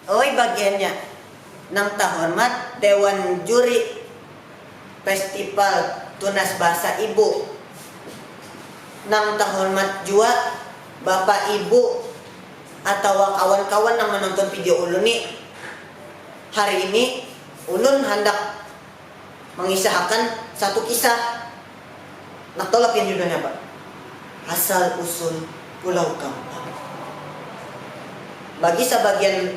Oi bagiannya nang tahormat dewan juri festival tunas bahasa ibu nang tahormat jua bapa ibu atawa kawan kawan nang menonton video ulun nih hari ini. Ulun handak mangisahakan satu kisah. Nak tahu lah pian judulnya apa? Asal Usul Pulau Gampang. Bagi sabagian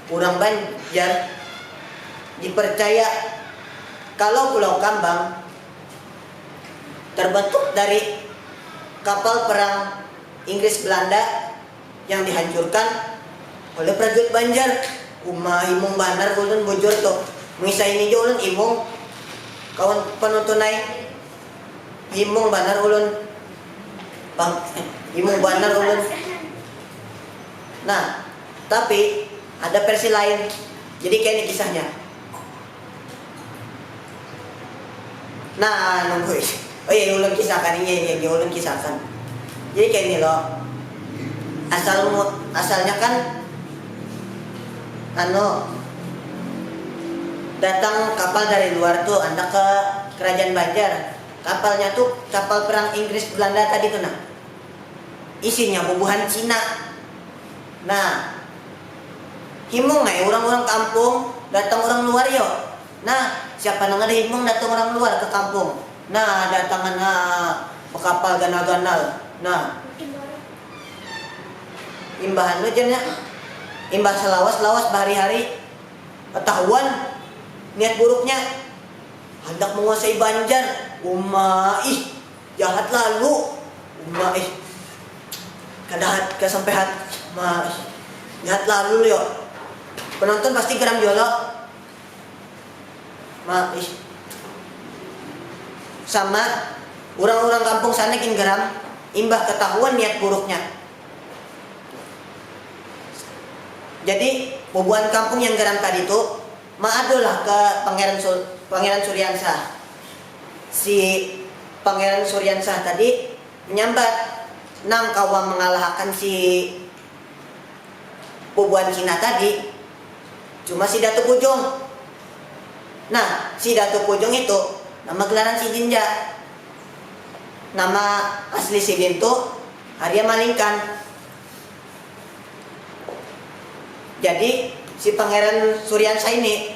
urang Banjar, dipercaya kalau Pulau Kambang terbentuk dari kapal perang Inggris-Belanda. yang dihancurkan oleh prajurit banjar uma imung banar ulun bujur tu mengisah ini jua ulun imung kawan penonton ai imung banar ulun bang imung banar ulun nah tapi ada versi lain jadi kaya ini kisahnya. Nah, nunggu ih. Oh iya, ulun kisahkan. Iya, iya, iya, ulun kisahkan. Jadi kaya ini lo, asal mu, asalnya kan anu, datang kapal dari luar tu handak ke Kerajaan Banjar. Kapalnya tu kapal perang Inggris Belanda tadi tu nah. Isinya bubuhan Cina. Nah. Himung ai urang-urang kampung, datang urang luar yo. Nah, siapa nang kada himung datang urang luar ka kampung. Nah, datangan ha bakapal ganal-ganal. Nah, imbah anu jar nya, imbah salawas-lawas bahari-hari, katahuan niat buruknya, handak manguasai Banjar. Uma ih. Jahat lalu uma ih. Kada hat kada sampai hat ma ih. Jahat lalu lio. Penonton pasti geram jua lo. Ma ih. Sama, urang-urang kampung sana gin geram imbah ketahuan niat buruknya. Jadi, bubuhan kampung yang geram tadi tu ma adulah ke Pangeran Pangeran Suriansa. Si Pangeran Suryansyah tadi manyambat nang kawa mangalahakan si bubuhan Cina tadi cuma si Datu Pujung. Nah, si Datu Pujung itu nama gelaran sidin ja. Nama asli sidin tu Arya Malingkan. Jadi, si Pangeran Suryansyah ini.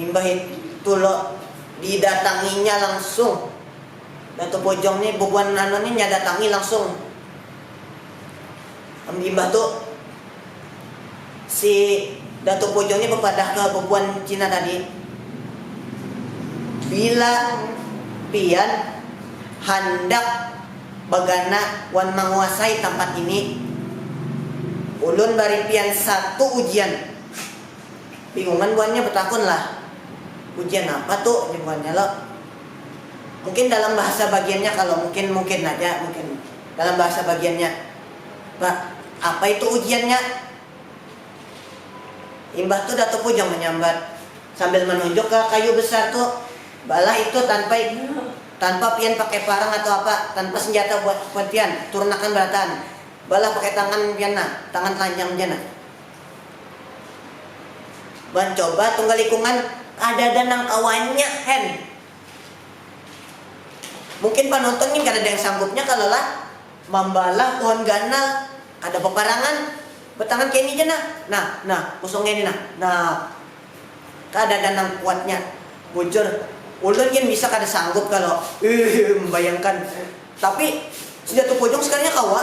Imbah itu lo didatanginya langsung. Datu Bojong ni bubuhan anu ni nya datangi langsung. Imbah tu si Datu Bojong ni bepadah ke bubuhan Cina tadi, Bila pian handak bagana wan manguasai tampat ini, ulun bari pian satu ujian. Bingungan buhannya betakun lah, ujian apa tu jar buhannya lo. Mungkin dalam bahasa bagiannya kalo mungkin mungkin haja mungkin dalam bahasa bagiannya ba apa itu ujiannya. Imbah tu Datu Pujang menyambat sambil menunjuk ke kayu besar tu, balah itu tanpa tanpa pian pakai parang atau apa, tanpa senjata buat buat pian, turun akan berataan, balah pakai tangan pian nah, tangan telanjang ja nah. Mancoba tunggal ikungan kadada nang kawanya hen. Mungkin panonton gin kadada yang sanggupnya kalo lah mambalah pohon ganal kada baparangan batangan kaya ini ja nah, nah, nah kosong kaya ini nah, nah kadada nang kuatnya bujur ulun gin bisa kada sanggup kalo iihh mambayangkan tapi sudah tupujung sekalinya kawa.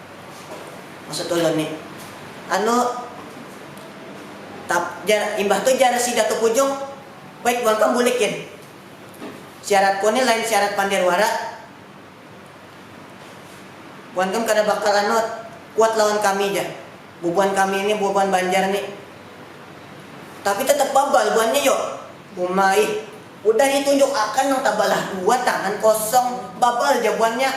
Maksud ulun nih, anu tap jar imbah tu jar si Datu Pujung, baik buhan kam bulik gin. Syaratku nih lain syarat pander wara. Buhan kam kada bakal anu kuat lawan kami jar. Bubuhan kami nih, bubuhan Banjar nih. Tapi tetap babal buhan nih yu. Uma ih. Udah ditunjuk akan nang tabalah dua tangan kosong, babal ja buhannya.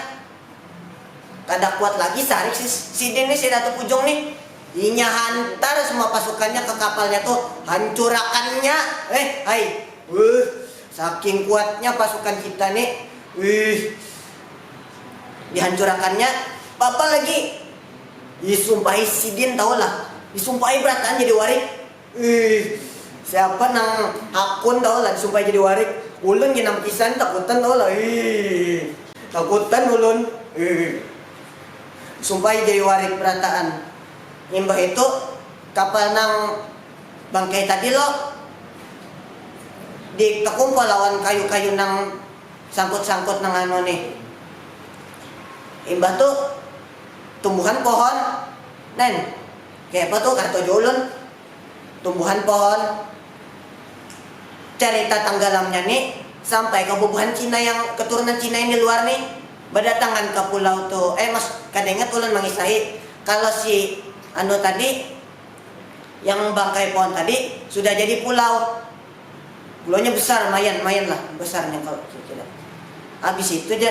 Kada kuat lagi sarik si sidin nih, si Ratu Pujung nih. Inya hantar semua pasukannya ke kapalnya tuh, hancurakannya. Eh, hai. Wuh, saking kuatnya pasukan kita nih. Wuh. Dihancurakannya. Bapa lagi. Disumpahi sidin tahulah. Disumpahi berataan jadi warik. Uih. Siapa nang hakun tahu lah disumpahi jadi warik. Ulun gin nang bekisahan takutan tahu lah uih. Takutan ulun uih. Disumpahi jadi warik berataan. Imbah itu kapal nang bangkai tadi lo di tekumpal lawan kayu-kayu nang sangkut-sangkut nang anu nih. Imbah tu tumbuhan pohon nen. Kaya apa tu kada tahu jua ulun. Tumbuhan pohon. Carita tanggalamnya ni sampai ka bubuhan Cina yang keturunan Cina yang di luar ni badatangan ka pulau tu. Eh maks kada ingat ulun mangisahi. Kalo si anu tadi yang bangkai pohon tadi sudah jadi pulau. Pulaunya besar mayan, mayan lah besarnya kalo kira-kira. Habis itu ja.